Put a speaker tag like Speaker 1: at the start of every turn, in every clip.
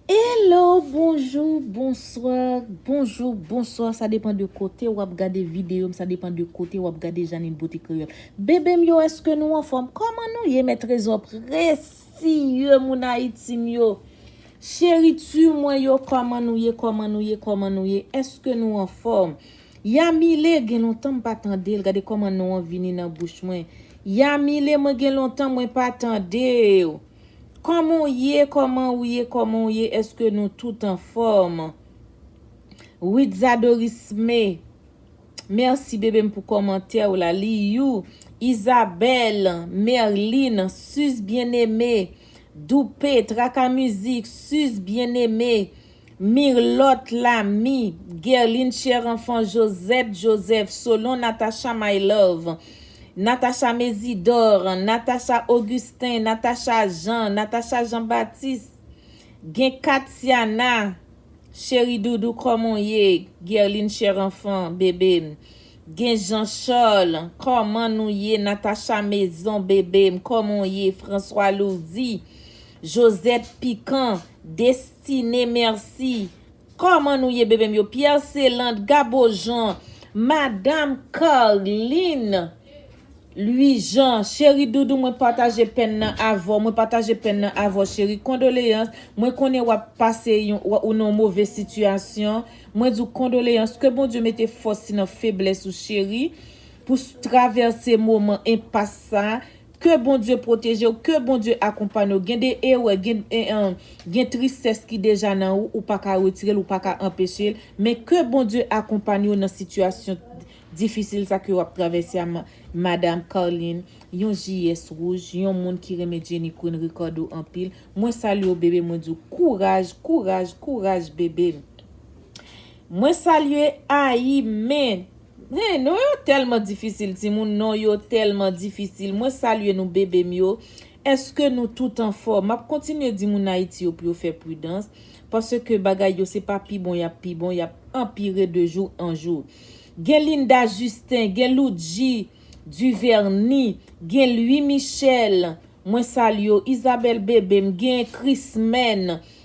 Speaker 1: Hello bonjou bonswa bonjou bonswa sa depan de kote wap gade videyo m sa depan de kote wap gade janin bote kreyol bebe m yo eske nou anfom koman nou ye mè trezò presiye moun ayiti m yo cheri tu mwen yo koman nou ye koman nou ye koman nou ye eske nou anfom yamile gen lontan m pa tandel gade koman non an vini nan bouch mwen yamile mwen gen lontan mwen pa tandew. Koman w ye koman w ye koman w ye eske nou tout anfom Ritza Dorisme merci bebe m pou komantè w la li you Isabelle Merline Suze Bien Aimé Doupe Traka Music Suze Bien Aimé Mirlotte Lamy Guerline Cherenfant Josette Joseph Solon Natacha My Love Natacha Mésidor Natacha Augustin Natacha Jean Natacha Jean Baptiste Gen Katiana Cheri doudou kòman w ye Guerline Cherenfant Bebe m Gen Jean Charles Kòman nou ye Natacha Maison Bebe m kòman w ye François Lourdy Josette Piquant Des Tine merci Koman nou ye bebem yo Pierre Celand Gabo Jean Madame Carline Louis Jean Cheri doudou mwen pataje pèn nan avèw mwen pataje pèn nan avèw cheri kondoleyans mwen konnen wap pase yon ou nan yon move sitiyasyon mwen diw kondoleyans ke Bondye mete fòs li nan feblès ou cheri pou travèse moman enpas sa Ke Bondye protejew ke Bondye akonpany w gen de erè gen gen tristès ki deja nan ou ou paka retirel ou paka anpechel men ke Bondye akonpany w nan sitiyasyon difisil sa ke wap travèse a madam Carline yon JS rouge yon moun ki renmen Jenny Queen Ricardo anpil mwen salye w bebe mwen diw kouraj kouraj kouraj bebe m. Mwen salye ayi men Hein non yo telman difisil timoun non yo telman difisil mwen salye nou bebe m yo eske nou tout anfom map kontinye di moun ayiti yo pou yo fè pridans paske bagay yo se pa pi bon yap pi bon yap anpire de jou an jou gen linda justin gen loudji duverni gen lwi michel mwen salye w isabelle bebe m gen krismèn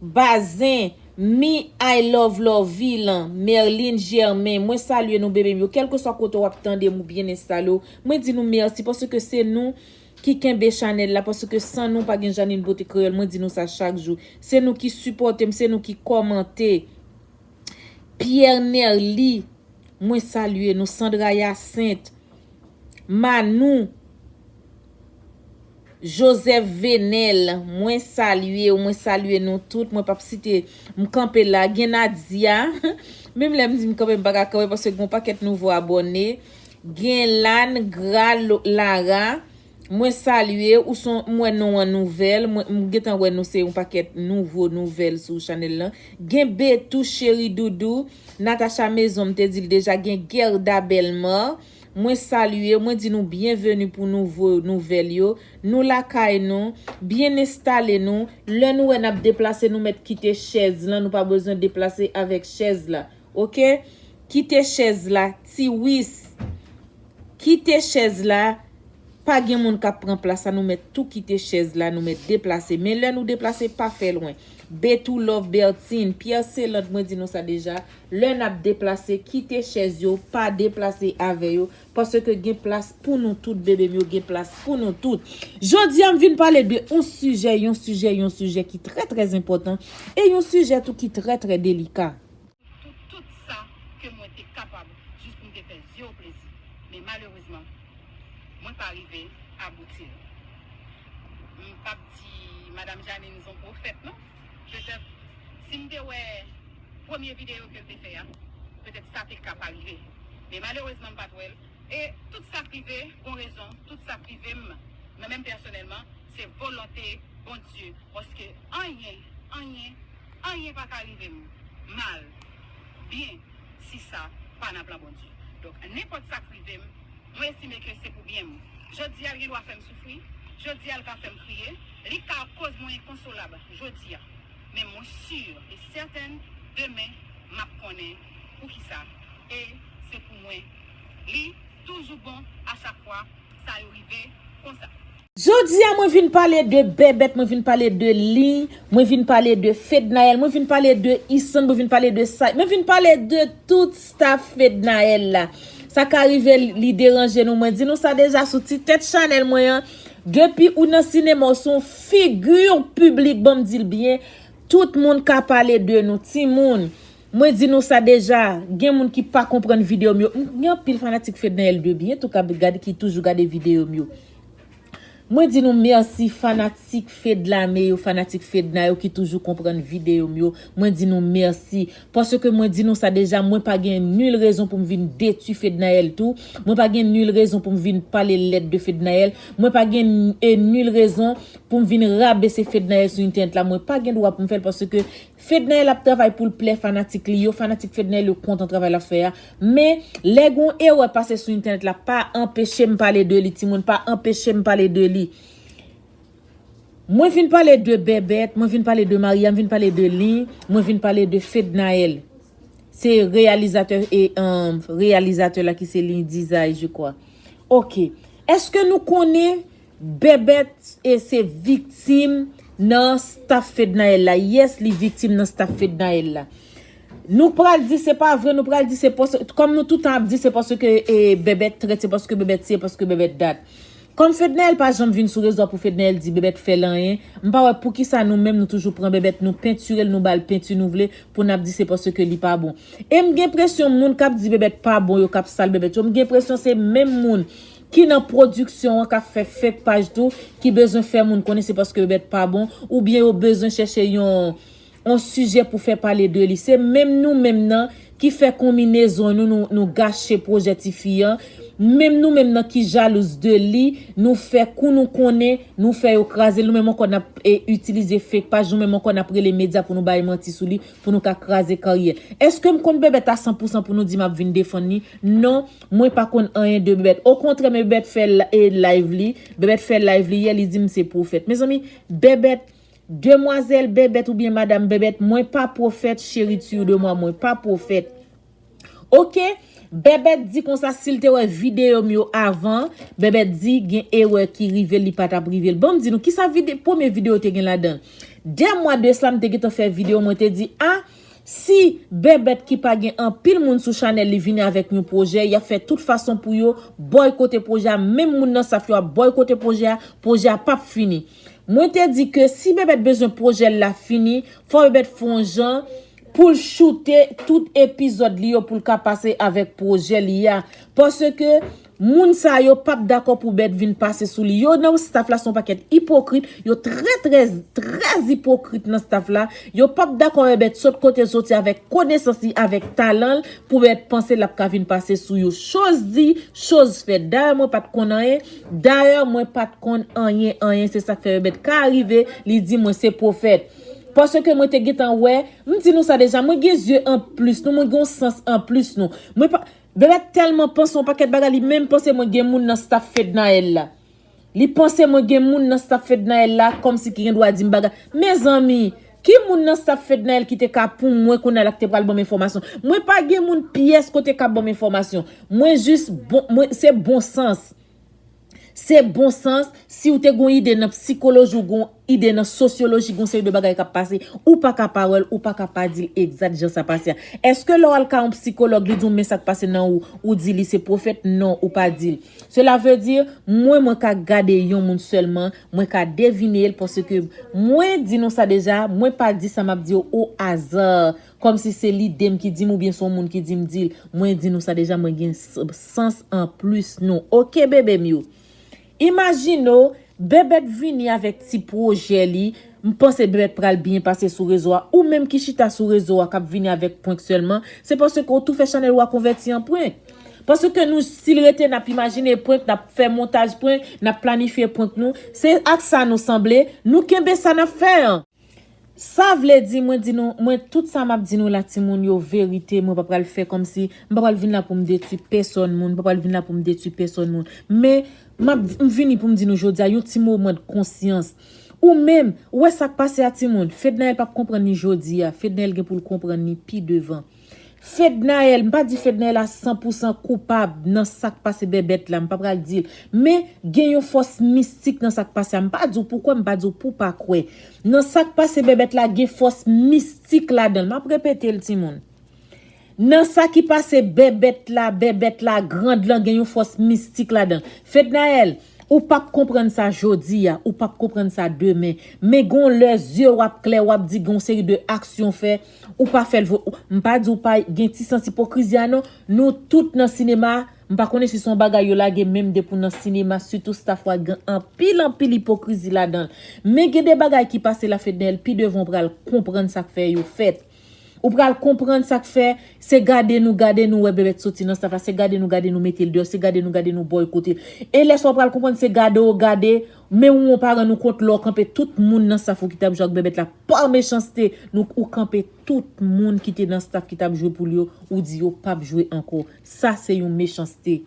Speaker 1: Bazin, Me I love Lorvie lan, Merline Germain, mwen salye nou bebe m yo kelkeswa kote wap tande m ou byen enstale w, mwen di nou mèsi paske se nou Ki kenbe chanèl la paske san nou pa gen Jeanine Beauté Créole mwen di nou sa chak jou se nou ki sipòte m se nou ki kòmante Pierre Nerly mwen salye nou Sandra Hyacinthe Manou. Joseph Venel mwen salye ou mwen salye nou tout mwen pap site m kanpe la gen Nadia menm lèm di m kanpe m paka kanpe paske gon pakèt nouvo abòne gen Lane Gra Lara mwen salye ou son m wè non an nouvèl mwen m gentan wè nou se yon pakèt nouvo nouvèl sou chanèl lan gen Betou cheri doudou Natacha mezon m te dil deja gen Guerda Bellemare. Mwen salye, mwen di nou byenveni pou nouvo nouvèl yo. Nou lakay nou, byen enstale nou. Lè nou wè n ap deplase nou mèt kite chèz lan, nou pa bezwen deplase avèk chèz la. Ok? Kite chèz la, Tiwis! Kite chèz la, pa gen moun k ap pran plas la, nou mèt tou kite chèz la, nou mèt deplase. Men lè nou deplase, pa fè lwen. Betou Love Bertin, Pierre Celant mwen di nou sa deja, Lè nap deplase kite chèz yo pa deplase avè yo paske gen plas pou nou tout bebem yo gen plas pou nou tout jodi a m vin pale de yon sijè yon sijè yon sijè ki trè trè enpòtan e yon sijè tou ki trè trè delika. pou tout
Speaker 2: sa ke mwen te kapab jis pou m te fè zye w plezi men malerezman mwen pa rive abouti l m pap di madam Janine son pwofèt non. Petèt si m te wè premye videyo ke l te fè a, petèt sa te ka pa rive. Men malerezman m pa t wè l. E tout sa k rive gon rezon, tout sa k rive m mwen menm pèsonèlman, se volonte Bondye. Paske anyen, anyen, anyen pa ka rive m mal, byen si sa pa nan plan Bondye. Donk nenpòt sa k rive m. Mwen estime ke se pou byen m. Jodi a l gen dwa fè m soufri, jodi a l ka fè m kriye, li ka koz mwen enkonsolab jodi a. Men mwen sur e sèten demen m ap konnen poukisa e se pou mwen li toujou bon a chak fwa sa yo rive konsa. Jodia mwen
Speaker 1: vin pale de bèbèt mwen vin pale de lin mwen vin pale de fednaelle mwen vin pale de isann mwen vin pale de sayy mwen vin pale de tout staff fednaelle la sa ka rive li deranje nou mwen di nou sa deja sou ti tèt chanèl mwen an depi ou nan sinema ou son figi piblik banm dil byen tout moun ka pale de nou timoun mwen di nou sa deja gen moun ki pa konprann video m yo m gen anpil fanatik fednaelle de byen tou kap gade ki toujou gade video m yo. Mwen di nou merci fanatik fedlame yo fanatik fedna yo ki toujou konprann video m yo mwen di nou merci paske mwen di nou sa deja mwen pa gen nul rezon pou m vin detwi fednaelle tou mwen pa gen nul rezon pou m vin pale lèd de fednaelle mwen pa gen nul rezon pou m vin rabese fednaelle sou internet la mwen pa gen dwa pou m fè l paske Fednaelle ap travay poul plè fanatik li yo, fanatik Fednaelle yo kontan travay lap fè a, men lè gon erè pase sou entènèt la pa anpechem pale de li timoun pa anpechem pale de li Mwen vin pale de Bebeth, mwen vin pale de Maria, m vin pale de Lin, mwen vin pale de Fednaelle se reyalizatè e reyalizatè la ki se Lin Dizay je kwa ok èske nou konnen Bebeth e se viktim nan staff fednaelle la yes li viktim nan staff fednaelle la nou pral di se pa vre nou pral di se pos kom nou toutan ap di se paske e bebeth trèt se paske bebeth si e paske bebeth dat kom fednaelle pa janm vin sou rezo a pou fednaelle di bebeth fèl anyen m pa wè poukisa nou menm nou toujou pran bebeth nou pentirel nou bal penti nou vle pou nap di se paske li pa bon em gen presyon moun kap di bebeth pa bon yo kap sal bebeth yo m gen presyon se menm moun ki nan pwodiksyon an k ap fè fake paj tou ki bezwen fè moun konnen se paske yo bèt pa bon oubyen yo bezwen chèche yon on sijè pou fè pale de li se menm nou menm nan ki fè konminezon nou nou gache pwojè tifi an menm nou menm nan ki jalouz de li nou fè kou nou konnen nou fè yo kraze l nou menm ankò n ap itilize fake paj nou menm ankò n ap rele medya pou nou bay manti sou li pou nou ka kraze karyè èske m konn bèbèt a sanpousan pou nou di m ap vin defann li non. Mwen pa konn anyen de bebet okontrè men bebet fè live li bebet fè live li yè li dim se profèt mezanmi bebet demwazel bebet ou byen madam bebet mwen pa profèt cheri tu de mwa mwen pa profèt ok bebet di konsa sil te wè video m yo avan bebet di gen erè ki rivel li patap rivel banm di nou kisa vide premye video te gen ladanl de mwa de sa m te gentan fè video mwen te di a. Si Bèbèt ki pa gen anpil moun sou chanèl li vini avèk yon pwojè, yap fè tout fason pou yo bòykote pwojè a, menm moun nan saf yo ap bòykote pwojè a, pwojè a pap fini. Mwen te di ke si Bèbèt bezwen pwojè l la fini, fò Bèbèt fè yon jan pou l choute tout epizòd li yo pou l ka pase avèk pwojè li a. Paske Moun sa yo pap dakò pou bèt vin pase sou li yo nan staff la son pakèt ipokrit yo trè trè trè ipokrit nan staff la yo pap dakò wè bèt sot kotel soti avèk konesans li avèk talanl pou bèt panse lap ka vin pase sou yo choz di choz fèt dayè mwen pat konn anyen dayè mwen pat konn anyen anyen se sak fè yo bèt ka rive li di mwen se pwofèt paske mwen te gentan wè m di nou sa deja mwen gen zye anplis nou mwen gen yon sans anplis nou mwen pa. Bebe telman panse yon paket bagay li menm panse mwen gen moun nan staff Fednaelle la li panse mwen gen moun nan staff Fednaelle la komsi ki gen dwa dim bagay mezanmi ki moun nan staff Fednaelle ki te ka pou mwen kounya la ki te pral banm enfomasyon mwen pa gen moun pyes kote kap banm enfomasyon mwen jis bon mwen se bon sans. Se bon sans, si w te gon ide nan psikoloji w gon ide nan sosyoloji gon seri de bagay kap pase ou pa ka pa wèl ou pa ka pa dil egzat jan sa pase a. Eske lè w al ka yon psikològ li di w men sak pase nan ou, ou di li se pwofèt non ou pa dil. Cela veut dire mwen mwen ka gade yon moun sèlman, mwen ka devine l paske mwen di nou sa deja mwen pa di sa map di yo au hasard Kòmsi se lidem ki dim oubyen son moun ki dim dil mwen di nou sa deja mwen gen sans anplus nou ok bebem yo imajine w bebet vini avèk ti pwojè li m panse bebet pral byen pase sou rezo a ou menm ki chita sou rezo a kap vini avèk prank sèlman se paske w tou fè chanèl ou a konvèti an prank paske nou sil rete nap imajine prank nap fè montaj prank nap planifye prank nou se ak sa nou sanble nou kenbe sa nap fè an. Sa vle di mwen di nou mwen tout sa map di nou la ti moun yo verite mwen pa pral fè kòmsi m pa pral vin la poum detwi pèsòn moun m pa pral vin la poum detwi pèsòn moun men map m vini poum di nou jodia yon ti moman de konsyans ou menm ou wè sak pase a ti moun Fednaelle pap konprann ni jodia Fednaelle gen poul konprann ni pi devan. Fednaelle, m pa di Fednaelle a san pou san koupab nan sak pase Bèbèt la, m pa pral di l. Men, gen yon fòs mistik nan sak pase a. M pa di w pou kwè, m pa di w pou pa kwè. Nan sak pase Bèbèt la gen fòs mistik ladan l. M ap repete l timoun. Nan sa ki pase Bèbèt la, Bèbèt la grand lan gen yon fòs mistik ladan l. Fednaelle, ou p ap konprann sa jodi a, ou p ap konprann sa demen. Men gon lè zye w ap klè, w ap di gen yon seri de aksyon w fè, Ou pa fèl vre ou m pa diw pa gen ti sans ipokrizi a non nou tout nan sinema m pa konnen si son bagay yo lage menm depi w nan sinema sitou staff wa gen anpil anpil ipokrizi ladanl men gen de bagay ki pase la Fednel pi devan w pral konprann sak fè yo fèt ou pral konprann sak fè se gade nou gade nou wè Bebeth soti nan staff la se gade nou gade nou metel deyò se gade nou gade nou bòykotel e lè sa w pral konprann se gade w gade men ou ou pa rann ou kont lè w kanpe tout moun nan staff ou ki tap jwe ak Bebeth la Par mechanste nou ou kanpe tout moun ki te nan staff ki tap jwe poul yo ou di yo pap jwe anko sa se yon mechanste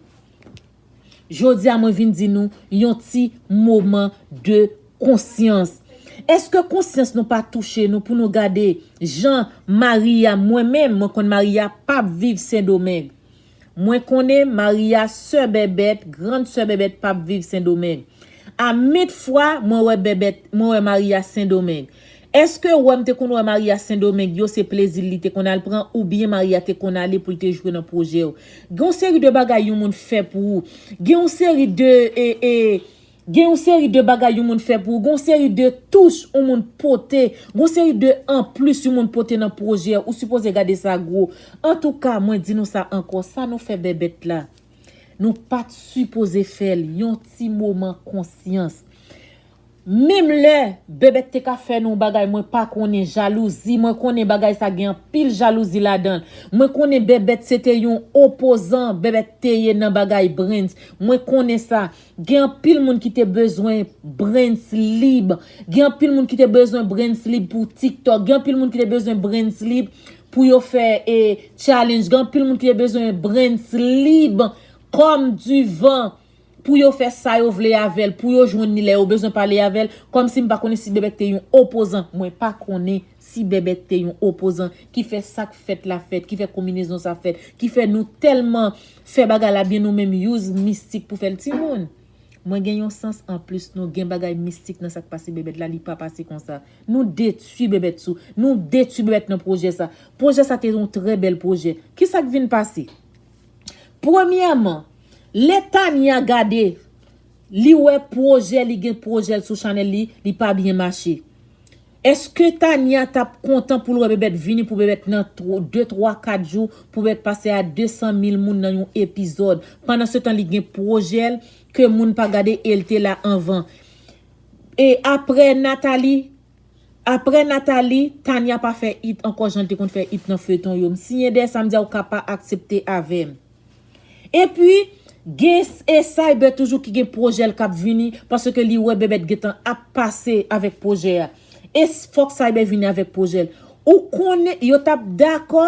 Speaker 1: jodia mwen vin di nou yon ti moman de konsyans eske konsyans nou pa touche nou pou nou gade jan maria mwen menm mwen konn maria pap viv sendomeng Mwen konnen Maria sè bèbèt grand sè bèbèt pap viv sendomeng a met fwa mwen wè bèbèt mwen wè Maria sendomeng eske wèm te konn wè Maria sendomeng yo se plezil li te konn al pran ou byen Maria te konn ale poul te jwe nan projèw gen yon seri de bagay yon moun fè pou ou gen yon seri de e e Gen yon seri de bagay yon moun fè pou ou, gen yon seri de touch yon moun pote, gen yon seri de anplis yon moun pote nan pwojè ou sipoze gade sa gwo. Antouka mwen di nou sa ankò sa nou fè Bèbèt la nou pat sipoze fèl yon ti moman konsyans. Menm lè Bèbèt te ka fè nou yon bagay mwen pa konnen jalouzi mwen konnen bagay sa gen anpil jalouzi ladanl mwen konnen Bèbèt se te yon opozan Bèbèt te ye nan bagay Brens mwen konnen sa Gen anpil moun ki te bezwen brens lib. Gen anpil moun ki te bezwen brens lib pou tiktok. Gen anpil moun ki te bezwen brens lib pou yo fè e challenge. Gen anpil moun ki te bezwen brens lib kòm di van pou yo fè sa yo vle avèl. Pou yo jwenn ni lè yo bezwen pale avèl. Kòm si m pa konnen si bebek te yon opozan. Mwen pa konnen si bebek te yon opozan ki fè sak fèt la fèt. Ki fè kominezon sa fèt. Ki fè nou tèlman. Fè bagay la byen nou menm use mistik pou fèl timoun Mwen gen yon sans anplis nou gen bagay mistik nan sak pase bebet la li pa pase konsa nou detwi bebet sou nou detwi bebet nan projè sa projè sa te yon trè bèl projè kisak vin pase premyèman lè Tania gade li wè projè li gen projèl sou chanèl li li pa byen mache. Eske Tania tap kontan poul wè Bebeth vini pou Bebeth nan 2 3 4 jou pou Bebeth pase a 200 mil moun nan yon epizòd pandan se tan li gen pwojèl ke moun pa gade el te la anvan e aprè Nathalie aprè Nathalie Tania pa fè it ankò janl te konn fè it nan feyton yo m siyen dèyè sa m di a ou ka pa aksepte avèm. Epi Gen e cyber toujou ki gen projè l kap vini paske li wè bebeth gentan ap pase avek projè a e fok cyber vini avek projè l ou konnen yo tap dakò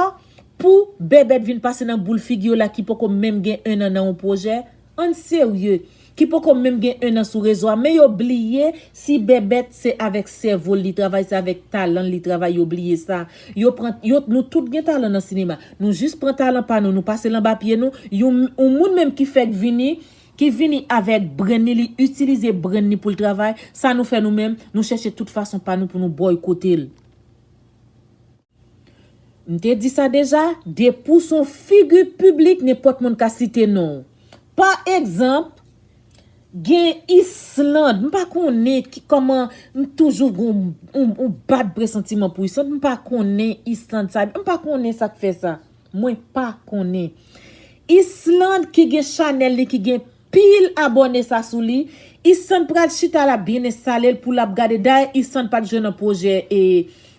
Speaker 1: pou bebeth vin pase nan boul figi yo la ki poko menm gen 1 an nan yon projè ann serye ki poko menm gen 1 an sou rezo a men yo bliye si bèbèt se avèk sèvol li travay se avèk talanl li travay yo bliye sa yo pran yo nou tout gen talan nan sinema nou jis pran talan pa nou nou pasel anba pye nou yon yon moun menm ki fèk vini ki vini avèk brenn li li itilize brenn li poul travay sa nou fè nou menm nou chèche tout fason pa nou pou nou bòykotel. M te di sa deja, depi w s on figi piblik nenpòt moun ka site non w. Pa egzanp, gen Island, m pa konnen kòman m toujou gen yon bad presantiman pou Island, m pa konnen Island sa, m pa konnen sa k fè sa. Mwen pa konnen. Island ki gen chanèl li ki gen. Pil abòne sa sou li. Isann pral chita lap byen enstalel pou lap gade dayè isann pat jwe nan pwojè e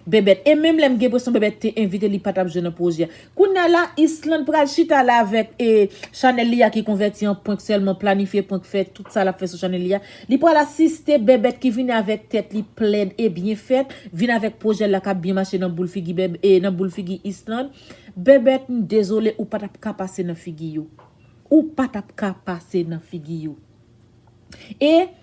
Speaker 1: bèbèt e menm lèm gen presyon bèbèt te envite li patap jwe nan pwojè kounya la islann pral chita la avèk e chanèl li a ki konvèti an prank sèlman planifye prank fè tout sa lap fè sou chanèl li a li pral asiste bèbèt ki vini avèk tèt li plèn e byen fèt vin avèk pwojèl la kap byen mache nan boul figi bèbè e nan boul figi islann bèbèt m dezole ou patap ka pase nan figi yo. Ou pa tap ka pase nan figi yo. E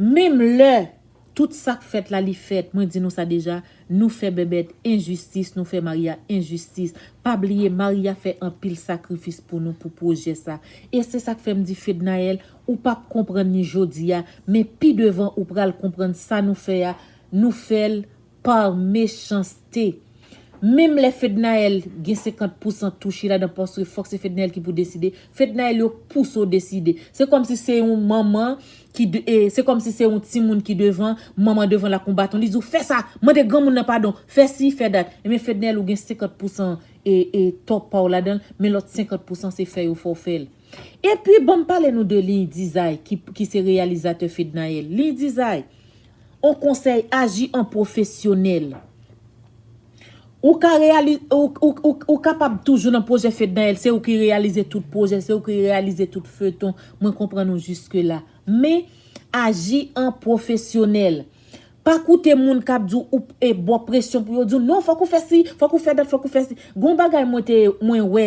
Speaker 1: Menm lè tout sak fèt la li fèt mwen di nou sa deja nou fè Bèbèt enjistis nou fè Maria enjistis pa bliye Maria fè anpil sakrifis pou nou pou pwojè sa e se sak fèm di Fednaelle ou pap konprann ni jodia men pi devan ou pral konprann sa nou fè a nou fèl Par mechanste. Menm lè Fednaelle gen 50 pousan touche ladan paske fòk se Fednaelle ki pou deside, Fednaelle yo pouse w deside. Se kòmsi se yon manman ki se kòmsi se yon timoun ki devan, manman devan l ak yon baton li di w fè sa, mande granmoun nan padon, fè si, fè dat. Ebyen Fednaelle ou gen 50 pousan e tò pa w ladan l, men lòt 50 pousan se fè yo fè w fè l. Epi banm pale nou de Lindizay ki se reyalizatè Fednaelle. Lindizay! On konsèy aji an pwofesyonèl. Ou ka reyali, ou kapab toujou nan pwojè Fednaelle, se ou ki reyalize tout pwojè, se ou ki reyalize tout feuilleton, mwen konprann ou jiske la. Men, aji an pwofesyonèl. Pa koute moun k ap di w, e ba w presyon pou yo di w, non fòk ou fè si, fòk ou fè dat, fòk ou fè si. Gon bagay mwen te, mwen wè.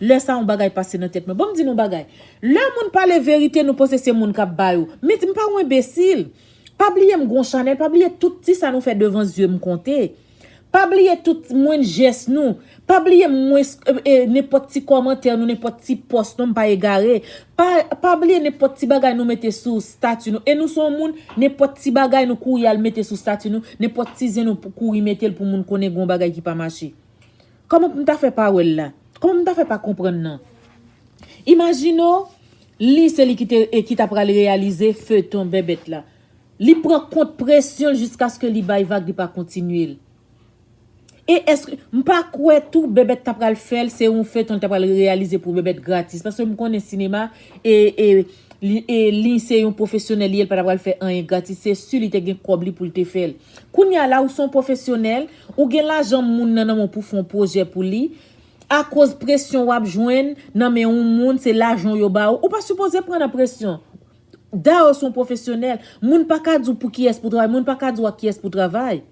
Speaker 1: Lè sa yon bagay pase nan tèt mwen. Banm di nou yon bagay. Lè moun pale verite nou panse se moun kap bay ou. Met mpa yon enbesil. Pa bliye m gon chanèl. Pa bliye tout ti sa nou fè devan zye m konte. Pa bliye tout mwenn jès nou. Pa bliye m mwen e nenpòt ti kòmantè nou nenpòt ti pòs nou mpa egare. Pa pa bliye nenpòt ti bagay nou mete sou stati nou. E nou son moun nenpòt ti bagay nou kouri al mete sou stati nou. Nenpòt ti zen nou kouri metel pou moun konnen gon bagay ki pa mache. Kòman pou m ta fè pa wè l la? Kòman pou m ta fè pa konprann nan? Imajine w li se li ki te e ki ta pral reyalize feuilleton Bèbèt la. Li pran kont presyon l jiskaske li bay vag li pa kontinye l. E èske, m pa kwè tou Bèbèt ta pral fè l se yon feuilleton li ta pral reyalize pou Bèbèt gratis paske m konnen sinema e e Li se yon pwofesyonèl li ye li pa ta pral fè anyen gratis se si li te gen kòb li pou l te fè l. Kounye a la ou se yon pwofesyonèl, ou gen lajan moun nan nan men w pou w fè yon pwojè pou li, akoz presyon w ap jwenn nan men yon moun se lajan w yo ba ou, ou pa sipoze pran nan presyon. Dayè w se yon pwofesyonèl, moun pa ka di w pou kiyès pou w travay, moun pa ka di w ak kiyès pou w travay.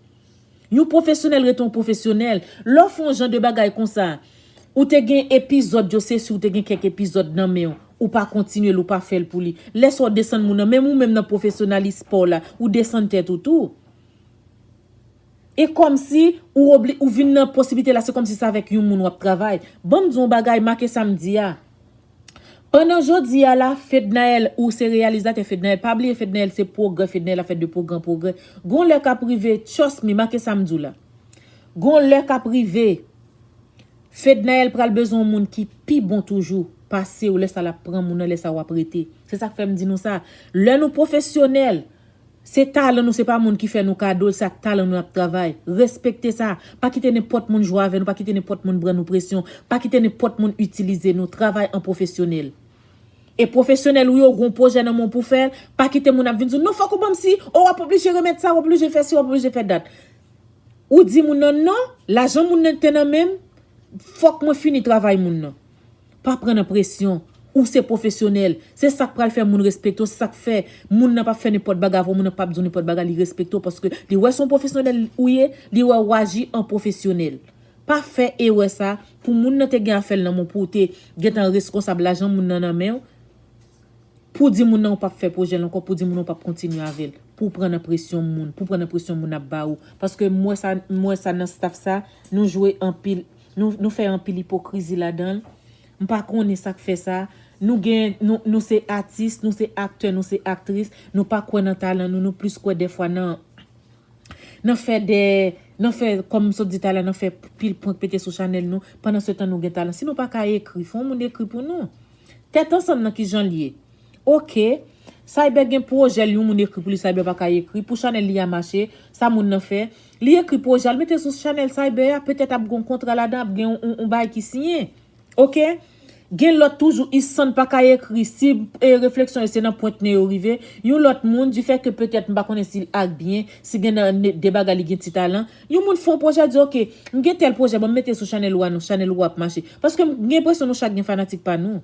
Speaker 1: Yon pwofesyonèl rete yon pwofesyonèl, lè w fè yon jan de bagay konsa, ou te gen epizòd yo se si w te gen kèk epizòd nan men w, ou pa kontinye l ou pa fè l pou li. Lè sa w desann moun nan, menm ou menm nan pwofesyonalis pa w la, ou desann tèt ou tou. E kòmsi ou obli, ou vin nan posiblite la se kòmsi se avèk yon moun w ap travay. Ban m di w yon bagay, make sa m di a. Pandan jodi a la Fednaelle ou se reyalizatè Fednaelle pa bliye Fednaelle se pwogrè Fednaelle ap fè de pwogran pwogrè gon lè kap rive trust me make sam diw la gon lè kap rive Fednaelle pral bezwen yon moun ki pi bon toujou pasew lè sa lap pran moun nan lè sa wap rete se sak fèm di nou sa lè nou pwofesyonèl Se talan nou se pa moun ki fè nou kado l se ak talan nou nap travay. Respekte sa, pa kite nenpòt moun jwe avè nou pa kite nenpòt moun bran nou presyon, pa kite nenpòt moun itilize nou, travay an pwofesyonèl. E pwofesyonèl ou yo ou gen yon pwojè nan men w pou w fè l, pa kite moun ap vin di w non fòk ou ban m si, oh wap oblije remèt sa, wap oblije fè si wap oblije fè dat. Ou di moun nan non, lajan moun nan te nan men m, fòk mwen fini travay moun nan. Pa pran nan presyon. Ou se pwofesyonèl. Se sa k pral fè moun respekte w. Se sa k fè moun nan pap fè nenpòt bagay avè w, moun nan pap di w nenpòt bagay, li respekte w paske li wè se yon pwofesyonèl ou ye, li wè ou aji an pwofesyonèl. Pa fè erè sa, pou moun nan te gen afè l nan men w, pou w te gentan reskonsab lajan moun nan nan men w, pou w di moun nan ou pap fè pwojè l ankò, pou w di moun nan ou pap kontinye avè l, pou w pran nan presyon moun, pou w pran nan presyon moun ap ba ou. Paske m wè sa, m wè sa nan staff sa, nou jwe anpil. Nou nou fè anpil ipokrizi ladanl m pa konnen sak fè sa nou gen nou nou se atis nou se aktè nou se aktris nou pa kwè nan talan nou nou plis kwè dèfwa nan nan fè de nan fè kòm m sot di tala nan fè pil prank pete sou chanèl nou pandan se tan nou gen talan si nou pa ka ekri fon moun ekri pou nou tèt ansanm nan kijanl ye ok Cyber gen pwojèl yon moun ekri pou li Cyber pa ka ekri pou chanèl li a mache sa moun nan fè Li ekri pwojè al mete sou chanèl cyber a petèt ap gon kontra ladan ap gen yon yon bagay ki siyen ok gen lòt toujou isann paka ekri si refleksyon yo se nan pwent nen yo rive yon lòt moun di fè ke petèt m pa konnen si l ak byen si gen nan de bagay li gen ti talan yon moun fon pwojè di ok m gen tèl pwojè banm mete sou chanèl ou a non chanèl ou a ap mache paske m gen enpresyon nou chak gen fanatik pa nou.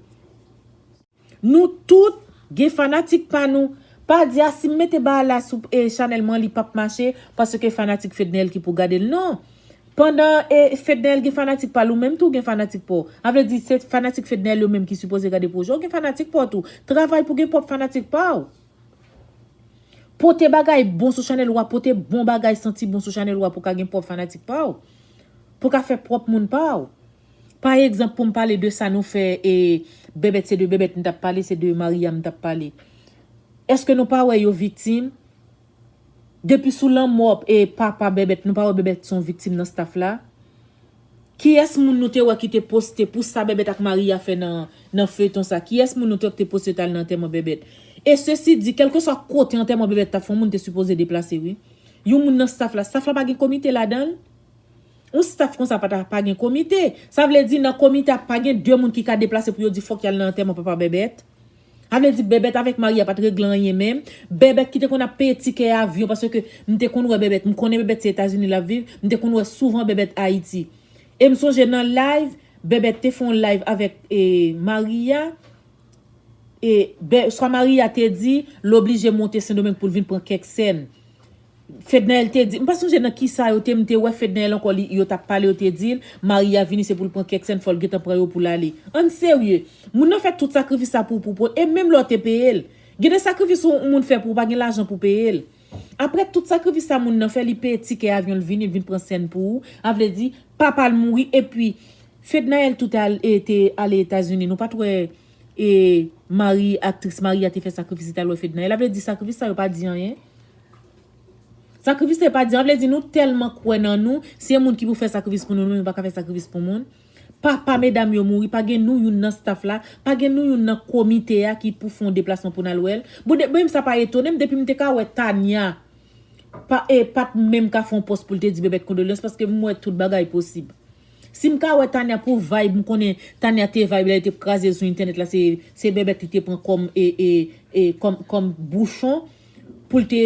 Speaker 1: Nou tout Gen fanatik pa nou. Pa di a sim mete baal la sou chanel mwen li pap mache paske fanatik fedneel ki pou gadel non pandan fedneel gen fanatik pal ou menm tou gen fanatik paw avle di se fanatik fedneel yo menm ki sipoze gade pwojè ou gen fanatik paw tou travay pou gen pwop fanatik paw pote bagay bon sou chanel ou a pote bon bagay santi bon sou chanel ou a pou ka gen pwop fanatik paw pou ka fè pwop moun paw. Pa egzanp pou m pale de sa nou fè e Bèbèt se de Bèbèt m t ap pale, se de Maryam m t ap pale. Èske nou pa wè yo viktim? Depi sou lanmò e papa Bèbèt, nou pa wè Bèbèt s on viktim nan staff la? Kiyès moun nou te wè ki te poste pou sa Bèbèt ak Maria fè nan nan feyton sa? Kiyès moun nou te wè ki te poste yo t al nan antèman Bèbèt? E sesi di, kèlkeswa kote antèman Bèbèt t ap fè yon moun te sipoze deplase wi. Yon moun nan staff la, staff la pa gen komite ladan l? Yon staff konsa pa ta pa gen komite. Sa vle di nan komite a pa gen 2 moun ki ka deplase pou yo di fòk y al nan antèman papa Bèbèt? Sa vle di Bèbèt avèk Maria pa t regle anyen menm? Bèbèt ki te konn ap peye tikè avyon paske m te konn wè Bèbèt, m konnen Bèbèt se Etazini l ap viv, m te konn wè souvan Bèbèt Ayiti. E m sonje nan live, Bèbèt te fè yon live avèk Maria e swa Maria te di l oblije monte Sendomeng pou l vin pran kèk sèn. Fednaelle te di, m pa sonje nan kisa yo te m te wè Fednaelle ankò li yo tap pale yo te dil Maria vini se poul pran kèk sèn fòl gentan pran yo poul ale ann serye moun nan fè tout sakrifis sa pou pou e menm lè w te peyel gen de sakrifis ou moun fè pou ou pa gen lajan pou peyel aprè tout sakrifis sa moun nan fè li peye tikè avyon l vini l vin pran sèn pou ou a vle di papa l mouri epi Fednaelle tout al e te ale etazini nou pat wè e Marie aktris Maria te fè sakrifis li tal wè Fednaelle a vle di sakrifis sa yo pa di anyen. Sakrifis se pa di, sa vle di nou tèlman kwè nan nou, si e moun ki pou fè sakrifis pou nou, nou menm nou pa ka fè sakrifis pou moun. Papa medam yo mouri, pa gen nou youn nan staff la, pa gen nou youn nan komite a ki pou fon deplasman pou nal wèl. Bon de menm sa pa etonem depim te ka wè Tania pa e pat menm ka fon pòs poul te di bebet kondolyans paske m wè tout bagay posib. Sim ka wè Tania pou vayb m konnen Tania te vayb lè li te kraze sou entènèt la se se bebet li te pran kòm e e e kòm kòm bouchon. pou l te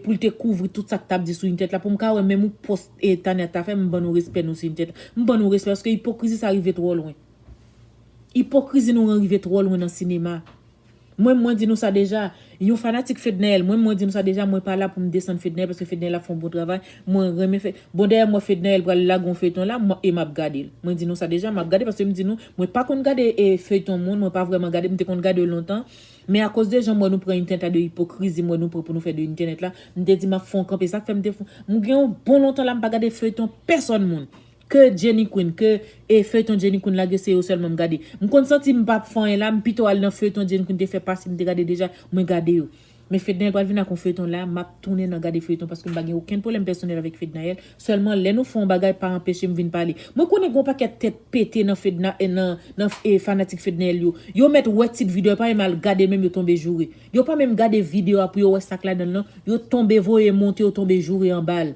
Speaker 1: pou l te kouvri tout sa k tap di sou Inèt la pou m ka wè menm yon pòs Tania ta fè m ban nou respè nou sou Inèt la m ban nou respè paske ipokrizi sa rive twò lwen ipokrizi nou an rive twò lwen nan sinema mwen mwen di nou sa deja yon fanatik Fednaelle mwen mwen di nou sa deja mwen pa la pou m desann Fednaelle paske Fednaelle ap fè yon bon travay mwen renmen fè bon dayè m wè Fednaelle pral lage yon feyton la e map gade l mwen di nou sa deja map gade paske m di nou mwen pa konn gade feyton moun mwen pa vrèman gade m te konn gade yo lontan Men akoz de jan m wè nou pran yn tenta de ipokrizi m wè nou pran pou nou fè de entènèt la, m te di map fè yon kanpe sak fè m te fon m gen yon bon lontan la m pa gade feyton pèsòn moun ke Jenny Queen ke e feyton Jenny Queen lage se yo sèlman m gade m konn santi m pap fè anyen la m pito al nan feyton Jenny Queen te fè pase m te gade deja mwen gade yo men Fednaelle pral vin ak yon feyton la map tounen nan gade feyton paske m pa gen okenn pwoblèm pèsonèl avèk Fednaelle Sèlman lè nou fè yon bagay pa anpeche m vin pale. Mwen konnen gen yon pakèt tèt pete nan fedna nan nan fanatik fednaelle yo. Yo mèt wè tit video yo pa menm al gade menm yo tonbe joure. Yo pa menm gade video a pou yo wè sak ladanl nan yo tonbe voye monte yo tonbe joure anbal.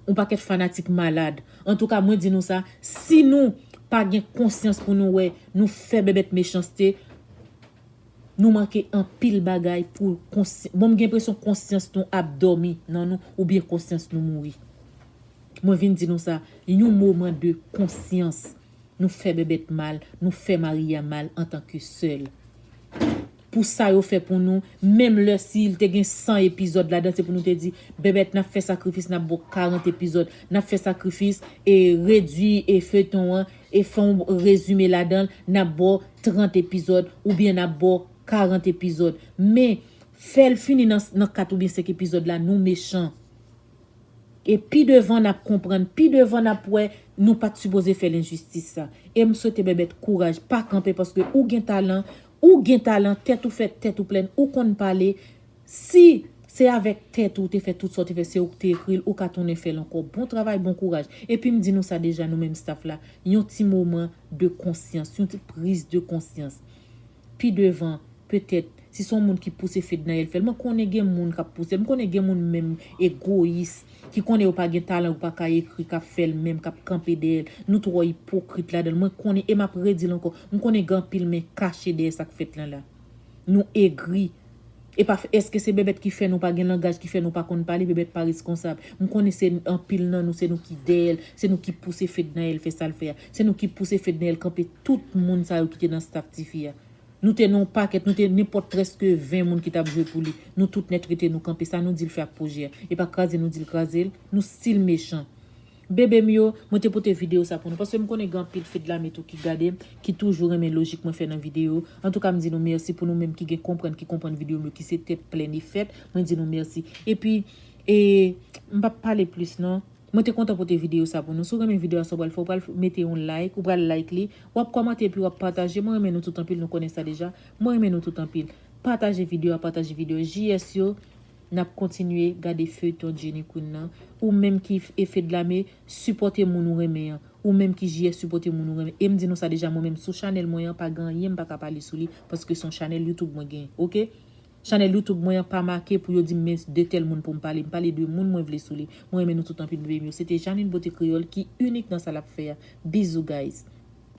Speaker 1: Yon pakèt fanatik malad. Antouka mwen di nou sa si nou pa gen konsyans pou nou wè nou fè bèbèt mechanste Nou manke anpil bagay pou konsy bon m gen enpresyon konsyans nou ap dòmi nan nou oubyen konsyans nou mouri mwen vin di nou sa yon moman de konsyans nou fè bèbèt mal nou fè maria mal antan ke sèl pou sa yo fè pou nou menm lè si l te gen 100 epizòd ladan se pou nou te di bèbèt n ap fè sakrifis n ap bo 40 epizòd n ap fè sakrifis e redwi e feyton an E fonw rezime ladanl nap baw 30 epizòd oubyen nap baw 40 epizòd men fèl fini nan 4 oubyen 5 epizòd la nou mechan e pi devan nap konprann pi devan nap wè nou pat sipoze fèl enjistis sa em swete bèbèt kouraj pa kanpe paske ou gen talan ou gen talan tèt ou fèt tèt ou plèn ou konn pale Si Se avèk tèt ou te fè tout sa ou te fè se ou ki te ekri l ou ka tounen fè l ankò bon travay bon kouraj epi m di nou sa deja nou menm staff la yon ti moman de konsyans yon ti priz de konsyans pi devan petèt si son moun ki pouse Fednaelle fè l mwen konnen gen moun kap pouse l m konnen gen moun menm egoyis ki konnen yo pa gen talan yo paka ekri kap fè l menm kap kanpe dèyè l nou twò ipokrit ladan l mwen konnen e map redi l ankò m konnen gen anpil men kache dèyè sak fèt lan la. Nou egri. Epa eske se bebet ki fè nou pa gen langaj ki fè nou pa konn pale bebet pa reskonsab m konnen se anpil nan nou se nou ki dèyèl se nou ki pouse fednaelle fè sal fè a se nou ki pouse fednaelle kanpe tout moun sa yo ki te nan staff tifi a nou te nan yon pakèt nou te nenpòt prèske 20 moun ki tap jwe pou li nou tout nèt rete nou kanpe sa nou dil fè ak pwojè a epa kraze nou dil krazel nou stil mechan. Bebe m yo, mwen te pote video sa pou nou paske m konnen gen anpil fi dlame tou ki gade m, ki toujou renmen lojik mwen fè nan video. Antouka m di nou mèsi pou nou menm ki gen konprann ki konprann video m yo ki se tèt plen li fèt, mwen di nou mèsi. Epi e m pap pale plis non. Mwen te kontan pote video sa pou nou. Si w renmen video a sa w pral fè ou pral mete yon like, ou pral like li, wap kòmante epi wap pataje. Mwen renmen nou tout anpil nou konnen sa deja. Mwen renmen nou tout anpil. Pataje video a, pataje video JS yo. nap kontinye gade feuilleton Jenny Queen nan ou menm ki Efedlame sipòte moun ou renmen an ou menm ki JS sipòte moun ou renmen em di nou sa deja mwen menm sou chanèl mwen an pa gen anyen m paka pale sou li paske son chanèl YouTube mwen gen ok chanèl YouTube mwen an pa make pou yo dim men de tèl moun poum pale m pale de moun mwen vle sou li mwen renmen nou tout anpil bby m yo se te Jeanine Beauté Créole ki inik nan sa lap fè a bizou guys.